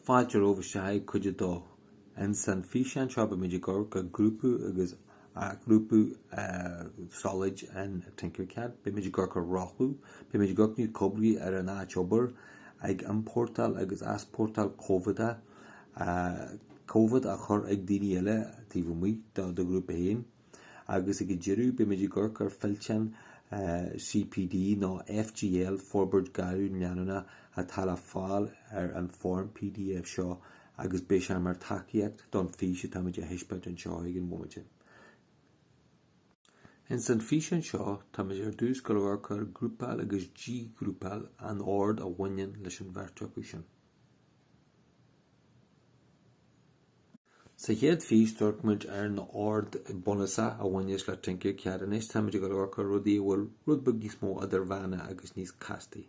Fáilte romhaibh isteach ag Cuid 2. Ins an físeán seo beimid ag amharc ar ghrúpa agus athghrúpa solaid in Tinkercad. Beimid ag amharc ar rothlú, beimid ag aicmiú ag oibriú ar an áit obair, ag iompórtáil agus easpórtáil comhaid, comhaid a chur ag daoine eile taobh amuigh do ghrúpa féin. agus ag an deireadh beimid ag amharc ar fillteán CPD nó FGL, Forbairt Ghairmiúil Leanúnach, atá le fáil ar an bhfoirm pdf seo agus beidh sé mar tacaíocht don fís atáimid a thaispeáint anseo ag an bhomaite. Ins an físeán seo, táimid ar dtús ag amharc ar ghrúpáil agus díghrúpáil an ord a bhaineann leis an bheirt acu sin. Sa chéad fís d'amharc muid ar na ord bunúsacha a bhaineas le Tinkercad anois táimid ag amharc ar rudaí a bhfuil rud beag níos mó idirmheánach agus níos castaí.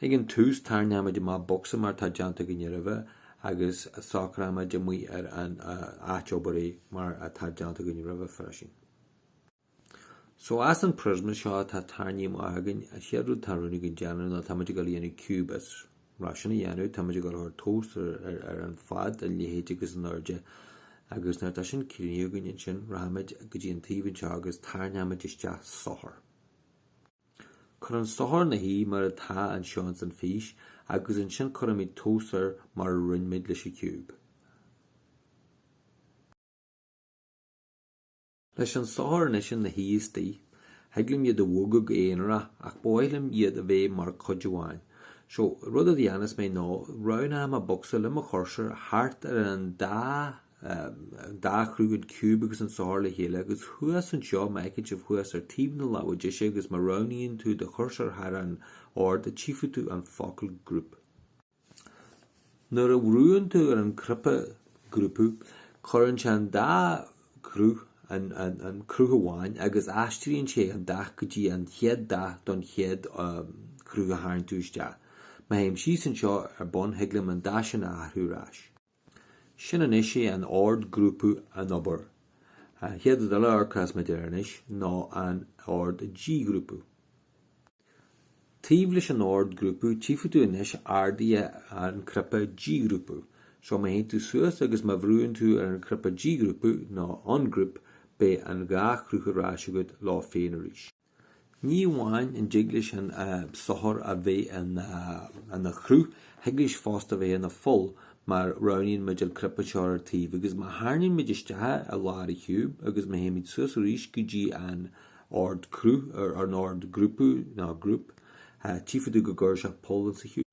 Ag an tús tarraingímid amach bocsa mar atá déanta againn roimhe agus socraímid amuigh ar an áit obair é mar atá déanta againn roimhe freisin. So as an priosma seo atá tarraingthe amach againn. An chéad rud tá rún againn déanamh ná táimid ag dul a dhéanamh ciúb as leis sin a dhéanamh, táimid ag dul a chur tomhas ar, ar, ar an fad, an leithead agus an airde agus nuair tá sin críochnaithe againn ansin rachaimid go dtí an taobh anseo agus tarraingímid isteach sorcóir. Cuir an sorcóir ina shuí mar atá anseo ins an fís agus ansin cuirfimid tomhas air mar a rinneamid leis an ciúb. Leis an sorcóir anois ina shuí istigh, thig liom iad a bhogadh go haonarach ach ba mhaith liom iad a bheith mar cuid amháin. So, rud a dhéanfas mé ná, roghnóidh mé bocsa le mo chúrsóir thart ar an dá dá chruth, an ciúb agus an sorcóir le chéile agus thuas anseo, má fheiceann sibh thuas ar taobh na láimhe deise agus má roghnaíonn tú do chúrsóir thar an ordú tchífidh tú an focal group. Nuair a bhrúann tú ar an cnaipe grúpa cuireann sé an dá cruth in aon cruth amháin agus aistríonn sé an dath go dtí an chéad dath don chéad cruth a tharraing tú isteach. Má théim síos anseo ar bun thig liom an dath sin a athrú ar ais. Sin anois é an ord grúpa ag obair. An chéad rud eile a amharcfas muid air anois ná an ord díghrúpa. Taobh leis an ord grúpa tchífidh tú anois ardaithe an cnaipe díghrúpa. So má théann tú suas agus má bhrúann tú ar an cnaipe díghrúpa nó ungroup beidh an dhá chruth ar ais agat leo féin arís. Ní amháin an dtig leis an sorcóir a bheith ina chruth, thig leis fosta bheith ina pholl má roghnaíonn muid an cnaipe seo ar taobh agus má tharraingíonn muid isteach i lár an chiúib agus má théimid suas arís go dtí an ord cruth, an ord grúpa nó group, tchífidh tú go gcuireann sé poll insa chiúb.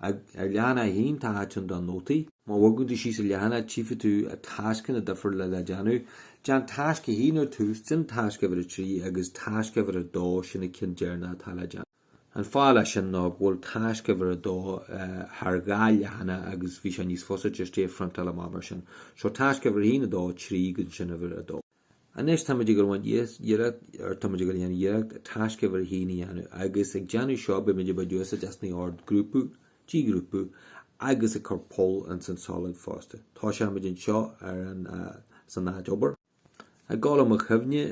ar leathanach a haon tá áit ann do nótaí. Má bhogann tú síos an leathanach tchífidh tú tascanna difriúla le déanamh. Déan tasc 1 ar tús, déan tasc uimhir 3 agus tasc uimhir 2, sin na cinn deireanacha atá le déanamh. An fáth leis sin ná go bhfuil tasc uimhir 2 thar dhá leathanach agus bhí sé níos fusa just é a phriontáil amach mar sin. Seo tasc uimhir 1, 2, 3 agus ansin uimhir 2. Anois tá, or táimid ag dul a dhéanamh iarracht, tasc uimhir 1 a dhéanamh agus ag déanamh seo beimid ag baint úsáid as na ord grúpa, dí-ghrúpa agus ag cur poll ins an solad fosta. Toiseoimid anseo ar an, san áit obair. Ag cur i mo chuimhne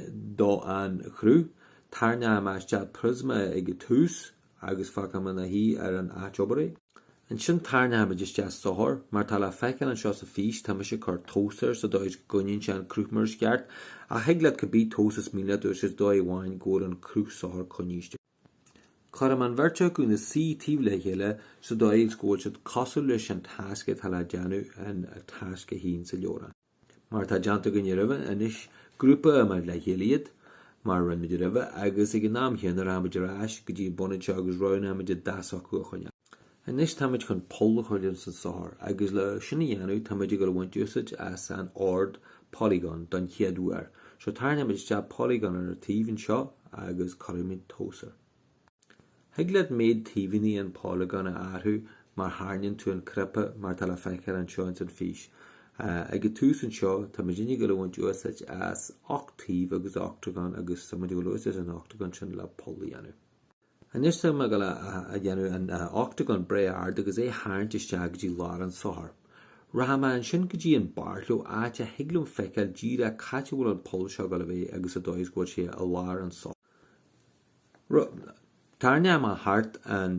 domh an chruth, tairneoidh mé isteach priosma ag an tús agus fágfaidh mé ina shuí ar an áit obair é. Ansin tairneoimid isteach sorcóir, mar atá le feiceáil anseo sa fís, tá mise ag cur tomhas air sa dóigh is go gcoinníonn sé an cruth mar is ceart, ach thig leat cibé tomhas is mian leat a úsáid sa dóigh amháin go bhfuil an cruth sorcóir coinníste. Cuirim an bheirt acu ina suí taobh le chéile sa dóigh is go bhfuil siad cosúil leis an tasc atá le déanamh an tasc 1 sa leabhrán. Mar atá déanta againne roimhe, anois grúpaímid le chéile iad, mar a rinne muid roimhe, agus ag an am chéanna rachaimid ar ais go dtí an bun anseo agus roghnaímid an dath s'acu a choinneáil. Anois táimid chun poll a chur ins an sorcóir, agus le sin a dhéanamh táimid ag dul a bhaint úsáid as an ord polygon don chéad uair. So tarraingímid isteach polygon ar an taobh anseo agus cuirimid tomhas air. Thig leat méid taoibheanna an polagán a athrú má thairneann tú an cnaipe mar atá le feiceáil anseo ins an fís. Ag an tús anseo tá muidne ag dul a bhaint úsáid as ocht taobh agus ochtagán agus táimid ag dul a úsáid leis an ochtagán sin le poll a dhéanamh. Anois táim ag dul a dhéanamh an ochtagán breá ard agus é tharraingt isteach go dtí lár an sorcóir. Rachaidh mé ansin go dtí an bárleo áit a thig liom feiceáil díreach c'áit a bhfuil an poll seo ag dul a bheith agus sa dóigh is go bhfuil sé i lár an sorcóir. Tairneoidh mé thart an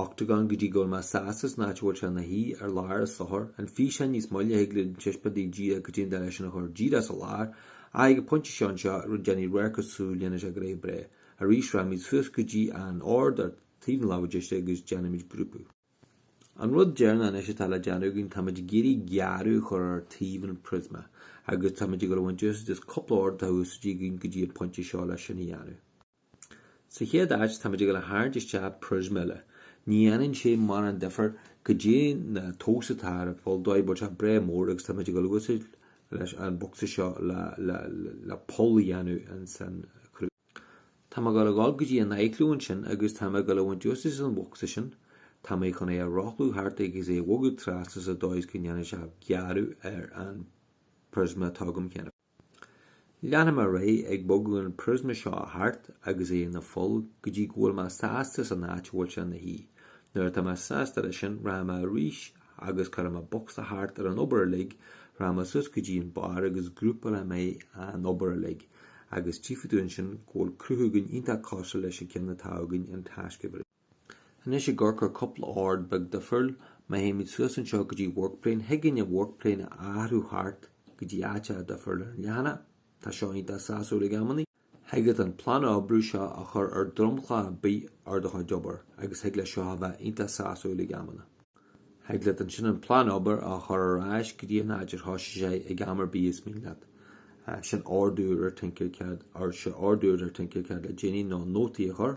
ochtagán go dtí go bhfuil mé sásta san áit a bhfuil sé ina shuí ar lár an sorcóir. An físeán níos moille thig linn taispeáint daoibh caidé an dóigh leis sin a chur díreach sa lár, ach ag an pointe seo anseo rud déanfaidh réir cosúil déanann sé gnoithe breá. Arís, rachaimid suas go dtí an ord ar taobh na láimhe deise agus déanfaimid grúpa. An rud deireanach anois atá le déanamh againn, táimid ag iarraidh gearradh a chur ar taobh an priosma agus táimid ag dul a bhaint úsáid as cúpla ord atá úsáidte againn go dtí an pointe seo leis sin a dhéanamh. Sa chéad áit, táimid ag dul a tharraingt isteach priosma eile. Ní dhéanann sé mórán difir caidé na tomhas atá ar fáil dóibh bhuel tá breá mór agus táimid ag dul a úsáid leis an bocsa seo le poll a dhéanamh ins an chruth. Tá mé ag gabháil a ghabháil go dtí an athchliú ansin agus tá mé ag gabháil a bhaint úsáid as an bhocsa sin. Tá mé chun é a rothlú thart agus é a bhogadh trasna sa dóigh is go ndéanfaidh sé gearradh ar an phriosma atá agam cheana féin. Leanfaidh mé ar aghaidh ag bogadh an phriosma seo thart agus é ina pholl go dtí go bhfuil mé sásta leis an áit a bhfuil sé ina shuí. Nuair atá mé sásta leis sin, rachaidh mé arís Agus cuirfidh mé bocsa thart ar an obair uilig, rachaidh mé suas go dtí an barr agus grúpálfaidh mé an obair uilig. Agus tchífidh tú ansin go bhfuil cruth againn iontach cosúil leis an gceann atá againn i dtasc a trí. Anois ag amharc ar cúpla ordú beag difriúil, má théimid suas anseo go dtí work plane, thig linn an work plane a athrú thart go dtí áiteacha difriúil ar an leathanach. Tá seo iontach sásúil ag amannaí. Thig leat an plán oibre seo a chur ar dhromchla ar bith ar do chuid obair agus thig leis seo a bheith iontach sásúil ag amannaí. Thig leat ansin an plán obair a chur ar ais go dtí an áit ar thosaigh sé ag am ar bith is mian leat. Sin ordú ar Tinkercad, nó seo ordú ar Tinkercad le déanaí ná nótaí a chur,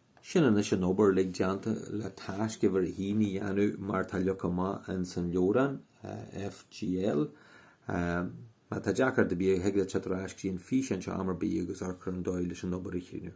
Sin anois an obair uilig déanta le tasc uimhir a haon a dhéanamh mar tá leagtha amach ins an leabhrán, FGL. Má tá deacracht ar bith agat thig leat teacht ar ais go dtí an físeán seo am ar bith agus amharc ar an dóigh leis an obair a chríochnú.